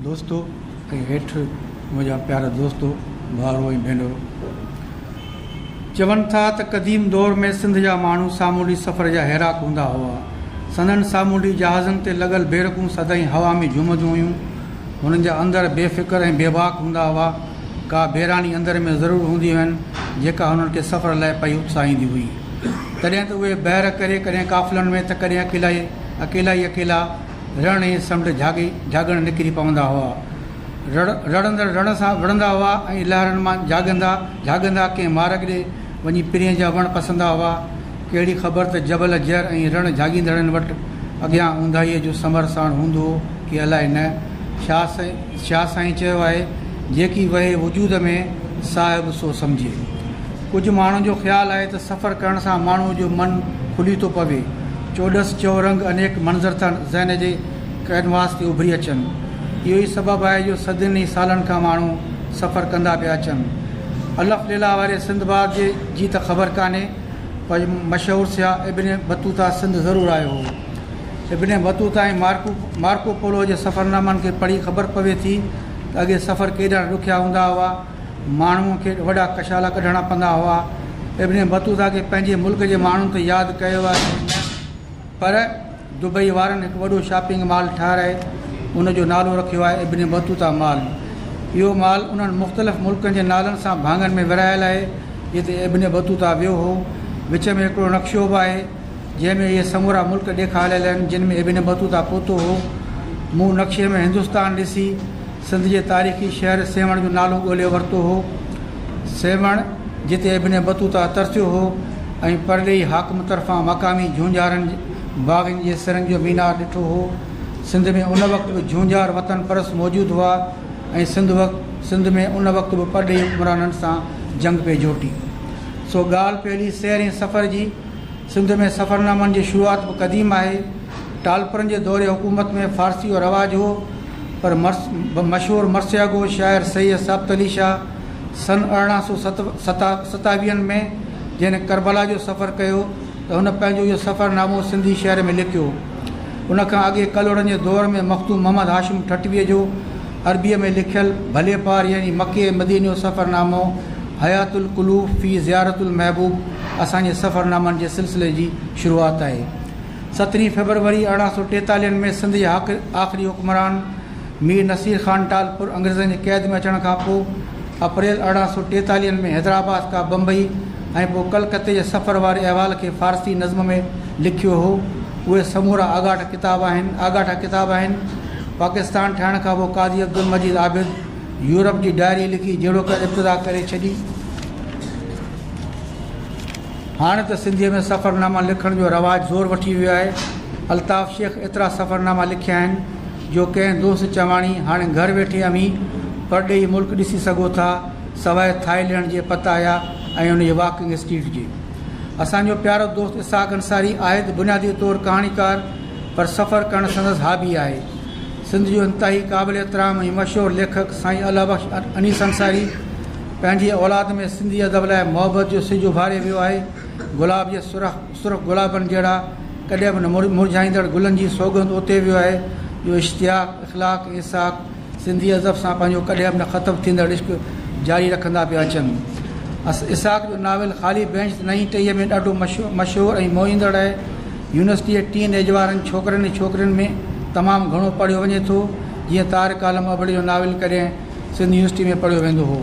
دوستو ۽ هيٺ منهنجا پيارا دوستو، ڀائرو ۽ ڀينرو! چون ٿا ته قديم دور ۾ سنڌ جا ماڻهو سامونڊي سفر جا هيراڪ هوندا هئا. سندن سامونڊي جهازن تي لڳل بيرڪون سدائين هوا ۾ جهومنديون هيون. هنن جا اندر بي فڪر ۽ بي باڪ هوندا هئا. ڪا بيراڻي اندر ۾ ضرور هوندي هين، جيڪا هنن کي سفر لاء پئي اتساهيندي هئي. تڏهن ته اهي بحر ڪري ڪڏهن قافلن ۾ ته ڪڏهن اڪيلا ئي اڪيلا. رڻ ۽ سمنڊ جهاڳي جهاڳڻ نڪري پوندا هئا. رڙ رڙندڙ رڻ سان وڙهندا هئا ۽ لهرن مان جهاڳندا جهاڳندا ڪنهن مارگ ڏي وڃي پرينء جا وڻ پسندا هئا. ڪهڙي خبر ته جبل جر ۽ رڻ جهاڳيندڙن وٽ اڳيان اونداهيء جو سمر ساڻ هوندو هو ڪي الائي نه. شاهه سائين شاهه سائين چيو آهي، جيڪي وهي وجود ۾، صاحب سو سمجهي. ڪجهه ماڻهن جو خيال آهي ته سفر ڪرڻ سان ماڻهوء جو من کلي ٿو پوي، چوڏس چئورنگ انيڪ منظر ٿا ذهن جي ڪئنواس تي اڀري اچن. اهو ئي سبب آهي جو صدين ئي سالن کان ماڻهو سفر ڪندا پيا اچن. الف ليلا واري سنڌباد جي جي ته خبر ڪانهي پر مشهور سياح ابن بطوطه سنڌ ضرور آيو هو. Ibn Battuta ۽ Marco Marco Polo جي سفرنامن کي پڙهي خبر پوي ٿي ته اڳي سفر ڪيڏا ڏکيا هوندا هئا. ماڻهوء کي وڏا ڪشالا ڪڍڻا پوندا هئا. ابن بطوطه کي پنهنجي ملڪ جي ماڻهن ته ياد ڪيو آهي نه پر دبئي وارن هڪ وڏو شاپنگ مال ٺهرائي ان جو نالو رکيو آهي ابن بطوطه مال. اهو مال انهن مختلف ملڪن جي نالن سان ڀاڱن ۾ ورهايل آهي جتي ابن بطوطه ويو هو. وچ ۾ هڪڙو نقشو به آهي جنهن ۾ اهي سمورا ملڪ ڏيکاريل آهن جن ۾ ابن بطوطه پهتو هو. مون نقشي ۾ هندستان ڏسي. سنڌ جي تاريخي شهر سيوهڻ جو نالو ڳولهي ورتو هو. سيوهڻ جتي ابن بطوطه ترسيو هو ۽ پرڏيهي حاڪم طرفان مقامي جهونجهارن باغين جي سرن جو مينار ڏٺو هو. سنڌ ۾ ان وقت به جهونجهار وطن پرست موجود هئا ۽ سنڌ وقت سنڌ ۾ ان وقت به پرڏيهي حڪمرانن سان جنگ پئي جهوٽي. سو ڳالهه پهلي سير ۽ سفر جي. سنڌ ۾ سفرنامن جي شروعات به قديم آهي. ٽالپرن جي دور حڪومت ۾ فارسيء جو رواج هو، پر مشهور مرثيه گو شاعر سيد ثابت علي شاهه سن ارڙهن سؤ ستاويهن ۾ جنهن ڪربلا جو سفر ڪيو ته هن پنهنجو اهو سفرنامو سنڌي شعر ۾ لکيو. ان کان اڳي ڪلهوڙن جي دور ۾ مخدوم محمد هاشم ٺٽويء جو عربيء ۾ لکيل ڀلي پار يعني مڪي ۽ مديني جو سفرنامو حياة القلوب في زيارة المحبوب اسان جي سفرنامن جي سلسلي جي شروعات آهي. سترهين فيبروري ارڙهن سؤ ٽيتاليهن ۾ سنڌ جي آخري حڪمران مير نصير خان ٽالپر انگريزن جي قيد ۾ اچڻ کان پوء اپريل ارڙهن سؤ ٽيتاليهن ۾ حيدرآباد کان بمبئي ۽ پوء ڪلڪتي جي سفر واري احوال کي فارسي نظم ۾ لکيو هو. اهي سمورا آڳاٽا ڪتاب آهن آڳاٽا ڪتاب آهن پاڪستان ٺهڻ کان پوء قاضي عبدالمجيد عابد يورپ جي ڊائري لکي جهڙوڪر ابتدا ڪري ڇڏي هاڻي ته سنڌيء ۾ سفرناما لکڻ جو رواج زور وٺي ويو آهي الطاف شيخ ايترا سفرناما لکيا آهن جو ڪنهن دوست چواڻي هاڻي گهر ويٺي اوهين پرڏيهي ملڪ ڏسي سگهو ٿا سواء ٿائلينڊ جي پتايا ۽ ان جي واڪنگ اسٽريٽ جي اسان جو پيارو دوست اسحاق انصاري آهي ته بنيادي طور ڪهاڻيڪار پر سفر ڪرڻ سندس هابي آهي. سنڌ جو انتهائي قابل احترام ۽ مشهور ليکڪ سائين الله بخش انيس انصاري پنهنجي اولاد ۾ سنڌي ادب لاء محبت جو سج اڀاري ويو آهي. گلاب جي سرخ سرخ گلابن جهڙا ڪڏهن به نه مرجهائيندڙ گلن جي سوڳند اوتي ويو آهي جو اشتياق، اخلاق ۽ اسحاق سنڌي ادب سان پنهنجو ڪڏهن به نه ختم ٿيندڙ عشق جاري رکندا پيا اچن. اسحاق جو ناول خالي بينچ ته نئين ٽهيء ۾ ڏاڍو مشهور ۽ موهيندڙ آهي. يونيورسٽيء ٽين ايج وارن ڇوڪرن ۽ ڇوڪرين ۾ تمام گهڻو پڙهيو وڃي ٿو. جيئن طارق عالم ابڙي جو ناول ڪڏهن سنڌ يونيورسٽيء ۾ پڙهيو ويندو هو.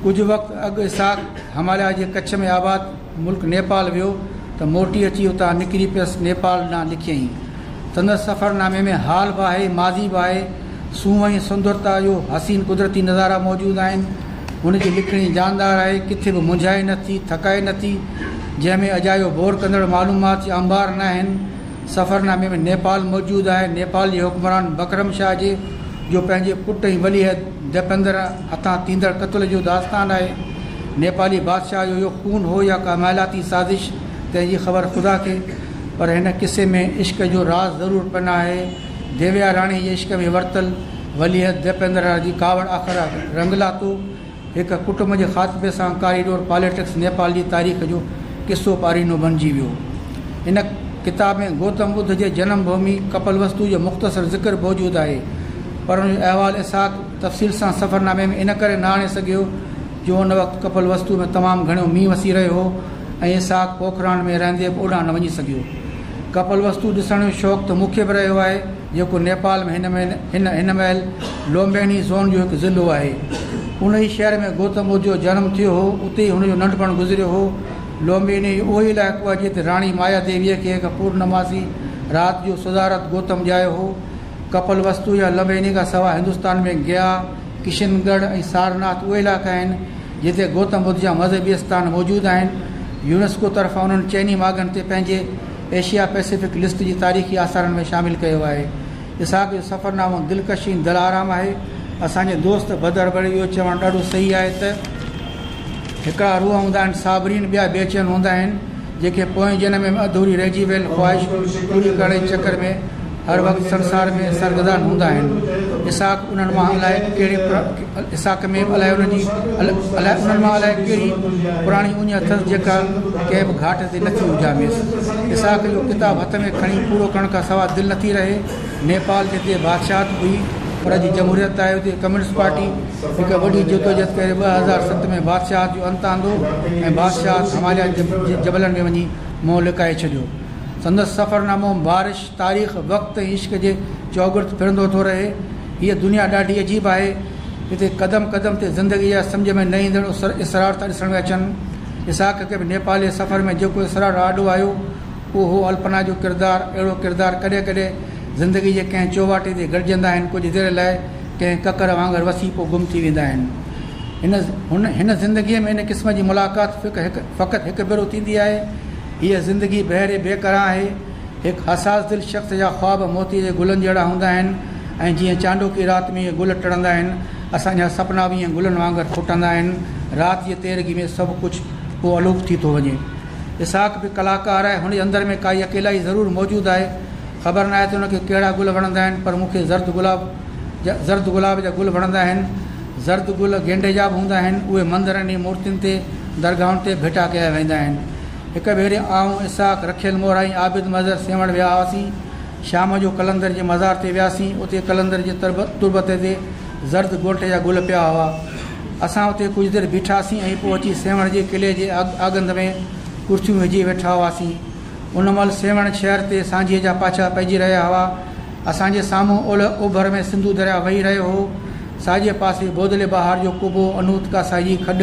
ڪجهه وقت اڳ اسحاق هماليا جي ڪڇ ۾ آباد. ملڪ نيپال ويو ته موٽي اچي اتان نڪري پيس نيپال ڏانهن لکيائين. سندس سفرنامي ۾ حال به آهي، ماضي به آهي. سونهن ۽ سندرتا جو حسين قدرتي نظارا موجود آهن. هن جي لکڻي جاندار آهي، ڪٿي به منجهائي نه ٿي، ٿڪائي نه ٿي، جنهن ۾ اجايو بور ڪندڙ معلومات جا انبار ناهن. سفرنامي ۾ نيپال موجود آهي. نيپال جي حڪمران بڪرم شاهه جي جو پنهنجي پٽ ۽ وليعهد ديپندر هٿان ٿيندڙ قتل جو داستان آهي. نيپالي بادشاهه جو اهو خون هو يا ڪا مالياتي سازش تنهن جي خبر خدا کي پر هن قصي ۾ عشق جو راز ضرور پن آهي. ديويا راڻي جي عشق ۾ ورتل وليعهد ديپندرا جي ڪاوڙ آخر رنگ لاتو. هڪ ڪٽنب جي خاتمي سان ڪاريڊور پاليٽڪس نيپال جي تاريخ جو قصو پارينو بڻجي ويو. هن ڪتاب ۾ گوتم ٻڌ جي جنم ڀومي ڪپلوستو جو مختصر ذڪر موجود آهي، پر ان جو احوال اسحاق تفصيل سان سفرنامي ۾ ان ڪري نه آڻي سگهيو جو ان وقت ڪپلوستو ۾ تمام گهڻو مينهن وسي رهيو هو ۽ اسحاق پوکراڻ ۾ رهندي به اوڏانهن نه وڃي سگهيو. ڪپلوستو ڏسڻ جو شوق ته مون کي به رهيو آهي. جيڪو نيپال ۾ هن هن مهل لومبيني زون جو هڪ ضلعو آهي. ان ئي شهر ۾ گوتم ٻڌ جو جنم ٿيو هو. اتي ئي هن جو ننڍپڻ گذريو هو. لومبيني اهو ئي علائقو آهي جتي راڻي مايا ديويء کي هڪ پورنماسي رات جو سڌارٿ گوتم ڄايو هو. ڪپل وستو يا لمبيني کان سواء هندستان ۾ گيا، ڪشن ڳڙهه ۽ سارناٿ اهي علائقا آهن جتي گوتم ٻڌ جا مذهبي آستان موجود آهن. يونيسڪو طرفان انهن چئني ماڳن تي پنهنجي ايشيا پئسفڪ لسٽ جي تاريخي آثارن ۾ شامل ڪيو آهي. اسحاق جو سفرنامو دلڪش ۽ دلآرام آهي. اسان جي دوست بدر بڙي اهو چوڻ ڏاڍو صحيح آهي ته، هڪڙا روح هوندا آهن صابرين، ٻيا بي چين هوندا آهن، جيڪي پوئين جنم ۾ اڌوري رهجي ويل خواهش پوري ڪرڻ جي چڪر ۾ هر وقت سنسار ۾ سرگردان هوندا آهن. اسحاق انهن مان الائي ڪهڙي الاساق ۾ به الائي انهن جي الائي انهن مان الائي ڪهڙي پراڻي اڃ اٿس جيڪا ڪنهن به گهاٽ تي نٿي اجهاميس. اسحاق جو ڪتاب هٿ ۾ کڻي پورو ڪرڻ کان سواء دل نٿي رهي. نيپال جتي بادشاهت هئي پر اڄ جمهوريت آهي اتي ڪميونسٽ پارٽي هڪ وڏي جدوجهد ڪري ٻه هزار ست ۾ بادشاهت جو انت آندو ۽ بادشاهت هماليا جي جبلن ۾ وڃي منهن لڪائي ڇڏيو. سندس سفرنامو بارش، تاريخ، وقت ۽ عشق جي چؤگرد ڦرندو ٿو رهي. هيء دنيا ڏاڍي عجيب آهي. هتي قدم قدم تي زندگيء جا سمجهه ۾ نه ايندڙ اسرار ٿا ڏسڻ ۾ اچن. اسحاق کي به نيپالي سفر ۾ جيڪو اسرار آڏو آيو، اهو هو الپنا جو ڪردار. اهڙو ڪردار ڪڏهن ڪڏهن زندگيء جي ڪنهن چوواٽي تي گڏجندا آهن، ڪجهه دير لاء ڪنهن ڪڪر وانگر وسي پوء گم ٿي ويندا آهن. هن هن زندگيء ۾ ان قسم جي ملاقات فقط هڪ ڀيرو ٿيندي آهي. هيء زندگي بحر بيڪران آهي. هڪ حساس دل شخص جا خواب موتي جي گلن جهڙا هوندا آهن ۽ جيئن چانڊوڪي رات ۾ اهي گل ٽڙندا آهن، اسان جا سپنا به ائين گلن وانگر ڦوٽندا آهن. رات جي تيرگي ۾ سڀ ڪجهه ڪو الوپ ٿي ٿو وڃي. اسحاق به ڪلاڪار آهي، هن جي اندر ۾ ڪائي اڪيلائي ضرور موجود آهي. خبر ناهي ته هن کي ڪهڙا گل وڻندا آهن، پر مون کي زرد گلاب جا زرد گلاب جا گل وڻندا آهن. زرد گل گينڊي جا به هوندا آهن. اهي مندرن ۽ مورتين تي، درگاهن تي ڀيٽا ڪيا ويندا آهن. هڪ ڀيري آئون، اسحاق، رکيل مور ۽ عابد مظهر سيوهڻ ويا هئاسين. شام جو قلندر جي مزار تي وياسين. اتي قلندر جي تربت تي زرد گونٺ جا گل پيا هئا. اسان اتي ڪجهه دير بيٺاسين ۽ پوء اچي سيوهڻ جي قلعي جي آڳنڌ ۾ ڪرسيون وجهي ويٺا هئاسين. ان مهل سيوهڻ شهر تي سانجهيء جا پاڇا پئجي رهيا هئا. اسان جي سامهون اولهه اوڀر ۾ سنڌو درياهه وهي رهيو هو. ساڄي پاسي بودلي بهار جو ڪوبو، انوتڪا سائي جي کڏ،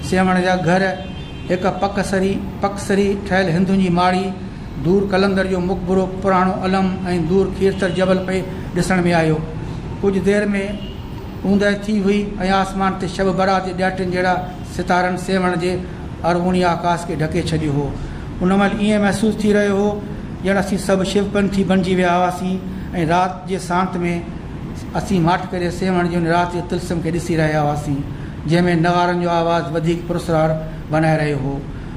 سيوهڻ جا گهر، هڪ پڪ سري، پڪ سري، ٺهيل هندن جي ماڙي، دور قلندر جو مقبرو، پراڻو علم ۽ دور کيرٿر جبل پئي ڏسڻ ۾ آيو. ڪجهه دير ۾ اوندهه ٿي هئي ۽ آسمان تي شب برات جي ڏهاٽين جهڙا ستارن سيوهڻ جي اروڻي آڪاس کي ڍڪي ڇڏيو هو. ان مهل ائين محسوس ٿي رهيو هو ڄڻ اسين سڀ شو پنٿي بڻجي ويا هئاسين ۽ رات جي سانت ۾ اسين ماٺڪري سيوهڻ جي ان رات جي طلسم کي ڏسي رهيا هئاسين. جنهن ۾ نغارن جو آواز وڌيڪ پراسرار بنائي رهيو هو.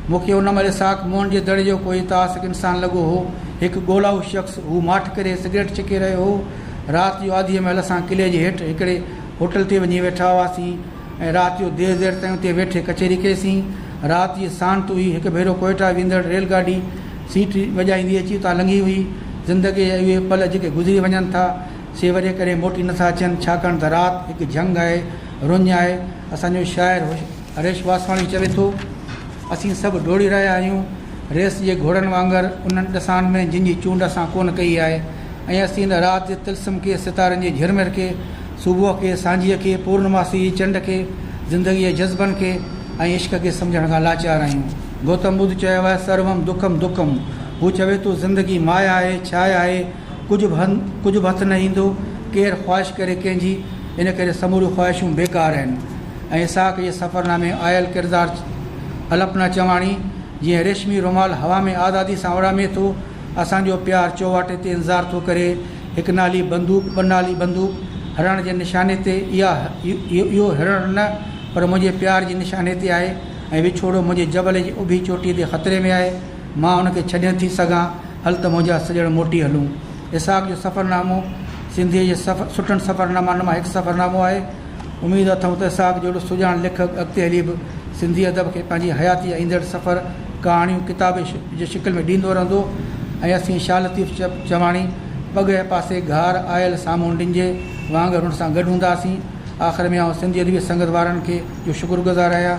مون کي ان مهل ساک موهن جي دڙي جو ڪوئي تاثڪ انسان لڳو هو. هڪ ڳولائو شخص، هو ماٺ ڪري سگريٽ ڇڪي رهيو هو. رات جو آڌيء مهل اسان قلعي جي هيٺ هڪڙي هوٽل تي وڃي ويٺا هئاسين ۽ رات جو دير دير تائين اتي ويٺي ڪچهري ڪئيسين. رات جي ساڻ تو ئي هڪ ڀيرو ڪوئيٽا ويندڙ ريل گاڏي سيٽ وڄائيندي اچي اتان لنگهي هئي. زندگيء جا اهي پل جيڪي گذري وڃن ٿا، سي وري ڪڏهن موٽي نٿا اچن، ڇاڪاڻ ته رات هڪ جهنگ آهي. رڃ آهي. اسان جو شاعر هريش واسواڻي چوي ٿو، اسين سڀ ڊوڙي رهيا آهيون، ريس جي گهوڙن وانگر، انهن ڏسان ۾، جن جي چونڊ اسان ڪونه ڪئي آهي ۽ اسين نه رات جي طلسم کي، ستارن جي جهرمر کي، صبح کي، سانجهيء کي، پورنماسي جي چنڊ کي، زندگيء جي جذبن کي ۽ عشق کي سمجهڻ کان لاچار آهيون. گوتم ٻڌ چيو آهي، سروم دکم دکم. هو چوي ٿو، زندگي مايا آهي، ڇايا آهي. ڪجهه به هنڌ ڪجهه به هٿ نه ايندو، ڪير خواهش ڪري ڪنهن جي، ان ڪري سموريون خواهشون بيڪار آهن ۽ اسحاق جي سفرنامي ۾ آيل ڪردار الپنا چواڻي جيئن ريشمي رومال هوا ۾ آزادي سان اڙامي ٿو، اسان جو پيار چوواٽي تي انتظار ٿو ڪري، هڪ نالي بندوق ٻه نالي بندوق، هرڻ جي نشاني تي اها اهو هرڻ نه پر منهنجي پيار جي نشاني تي آهي ۽ وڇوڙو منهنجي جبل جي اڀي چوٽي تي خطري ۾ آهي، مان ان کي ڇڏي نٿي سگهان، هل ته منهنجا سڄڻ موٽي هلون. اسحاق جو سفرنامو سنڌيء جي سٺن سفرنامن مان هڪ سفرنامو آهي. اميد اٿم ته اسحاق جهڙو سجاڻ ليکڪ اڳتي هلي به سنڌي ادب کي پنهنجي حياتيء جا ايندڙ سفر ڪهاڻيون ڪتاب جي شڪل ۾ ڏيندو رهندو ۽ اسين شاهه لطيف چواڻي پڳهئي پاسي گهار آيل سامهون ڊنجي وانگر هن سان گڏ هونداسين. آخر ۾ آئون سنڌي ادبي سنگت وارن کي جو شڪرگذار آهيان